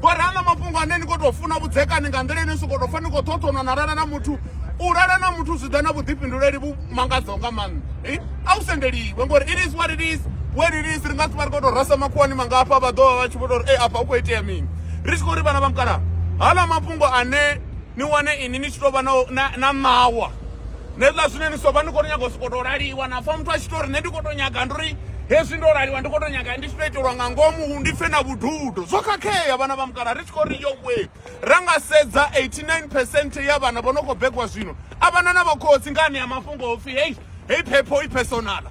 ngori ana mafhungo ane ni khou tou funa vhudzekani nga nḓila ine si khou tou pfa ni khou ṱhoṱhonwa na lala na muthu u lala na muthu zwi ḓa na vhuḓifhinduleli vhu mangadzaho nga maanḓa eh? a u sendeliwe ngori it is what it is where it is ri nga si vha ri khou tou rasa makhuwani mangafha vha ḓovha vha tshi vho tou ri e afha u khou itea mini ri tshi khou ri vhana vha mukala hala mafhungo ane ni wane ini ni tshi tou vha na ṋawa nṋe zwine ni soba ni khou to nyaga u sokou tou laliwa na pfha muthu a tshi to ri nṋe ndi khou to nyaga ndi uri hezwi ndo laliwa ndi khou to nyaga ndi tshi to itelwa nga ngomu ndi pfe na vhududo zwo khakhea vhana vha mukala ri tshi khou ri yowe ra nga sedza 89 percent ya vhana vho no khou begwa zwino a vhana na vhakhotsi nga anea mafhungo o pfhi hei hei phepho i personala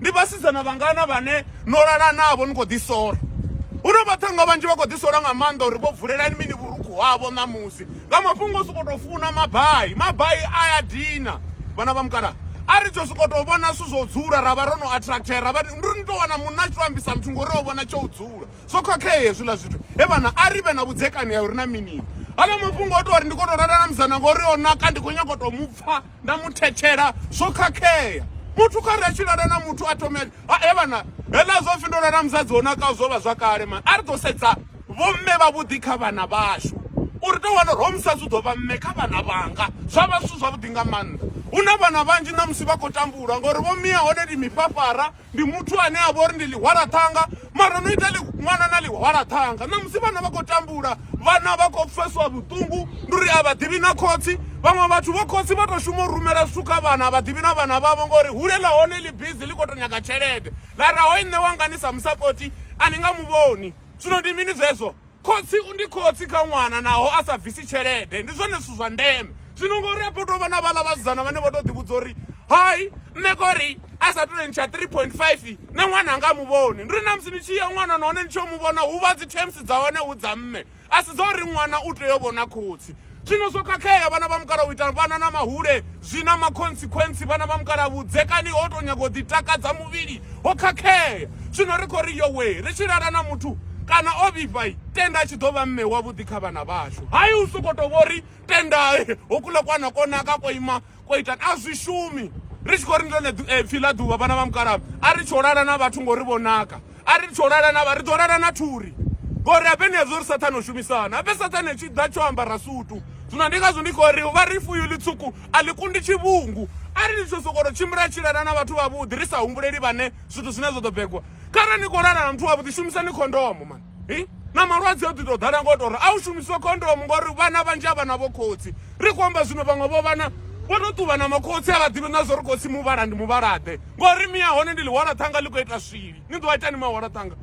ndi vhasidzana vhangana vhane no lala navho ni khou ḓisola hu na vhaṱhanga vhanzhi vha khou ḓisola nga maanḓa uri vho vulelani mini vhurukhu havho ṋamusi nga mafhungo o sokou tou funa mabai mabai a ya dina vhana vha mukala a ri tsho sokou tou vhona zwithu zwo dzula ra vha ro no attracter ra vha ndi ri tou wana munna a tshi to ambisa muthu ngori o vhona tsho u dzula zwo khakhea hezwiḽa zwithu he vhana a ri vhe na vhudzekani ha uri na minini hala mafhungo o tou ri ndi khou tou lala na musana ngori o naka ndi khou nyanga u tou mu pfha nda mu thetshela zwo khakhea muthu kha ri a tshi lala na muthu a thome a he vhana heḽa zwo pfhi ndo lala musadzi wo nakaho zwo vha zwa kale mani a ri ḓo sedza vhomme vhavhuḓi kha vhana vhashu uri tou wana uri ho musadzi u ḓo vha mme kha vhana vhanga zwa vha zwithu zwavhuḓi nga maanḓa hu na vhana vhanzhi ṋamusi vha khou tambula ngori vho mia hone ndi mifhafhara Ndi muthu ane a vha uri ndi ḽihwalaṱhanga mara no ita ṅwana na ḽihwalaṱhanga ṋamusi vhana vha khou tambula vhana vha khou pfeswa vhuṱungu ndi uri a vha ḓivhi na khotsi vhaṅwe vhathu vho khotsi vha tou shuma u rumela zwithu kha vhana a vha ḓivhi na vhana vhavho ngori hule ḽa hone ḽi bizi ḽi khou tou nyaga tshelede ḽa ra hoi nṋe wanga ni sa musapoti a ni nga mu vhoni zwino ndi mini zwezwo khotsi ndi khotsi kha ṅwana naho a sa bvisi tshelede ndi zwone zwithu zwa ndeme zwino ngori afho tovha na vhaḽa vhasidzana vhane vha to ḓivhudza uri hai nṋe kori a sa to ntsha 3.5 na ṅwana anga muvhoni ndi ri na musi ni tshi ya ṅwana nahone ni tshi yo muvhona hu vha dzi terms dza hone hu dza mme a si dza uri ṅwana u tea u vhona khotsi Zwino zwo khakhea, vhana vha mukala u ita vhana na mahule zwi na makhonsikhwentsi. Vhana vha mukala vhudzekani ho tou nyaga u ḓitakadza muvhili ho khakhea. Zwino ri khou ri, Yowee, ri tshi lala na muthu kana o vhifha, tenda a tshi ḓo vha mme wavhuḓi kha vhana vhashu. Hai, u sokou tou vho ri, Tenda houkuḽa kwana ko naka ko ima kwa ita a zwi shumi ri tshi khou ri ḽone eh, pfhi ḽa ḓuvha vhana vha mukalaba a ri tsho lala na vhathu ngori vho naka a ri tsho lala na vha ri ḓo lala na thuri ngori abe ni hezwo ri sathane u shumisana abe sathane tshi ḓa tsho ambara sutu zwino ndi ngazwo ndi khou ri vha ri fuyo ḽitswuku a ḽi kundi tshivhungu a ri ḽi tsho sokolo tshimbila tshi lala na vhathu vhavhuḓi ri sa humbuleli vhane zwithu zwine zwa ḓo begwa kharali ni khou lala na muthu wavhuḓi shumisani khondomo mani hi na malwadze o ḓi tou ḓala ngo tou ri a u shumiswa khondomu ngori vhana vhanzhi a vha na vho khotsi ri khou amba zwino vhaṅwe vho vhana vho tou ṱuvha na makhotsi a vha ḓivhi na zwo ri khotsi muvhala ndi muvhalaḓe ngori mi ya hone ndi ḽihwala ṱhanga ḽi khou ita swili ni ḓo ita ni mahwala ṱhanga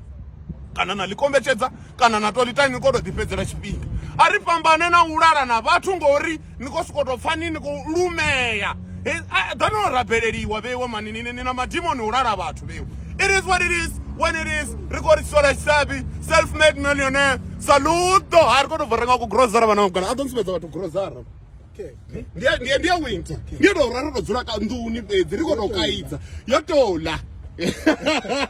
kana na ḽi kombetshedza kana na to ḽi tani ni kho to ḓi fhedzela tshifhinga a ri fhambane na u lala na vhathu ngori ni khou sokou tou pfha ni ni khou lumea ḓani o rabeleliwa vheiwe mani ni na madimoni u lala vhathu vheiwe it is what it is when it is ri khou ri sola tshisabi self made millionaire saluto ha ri khou tou bva renga ku grosara vhana mugana a ḓo nsumbedza vhathu grosara ndiye winter ndiye tou ra ro tou dzula ka nḓuni fhedzi ri khou tou kaidza yo tola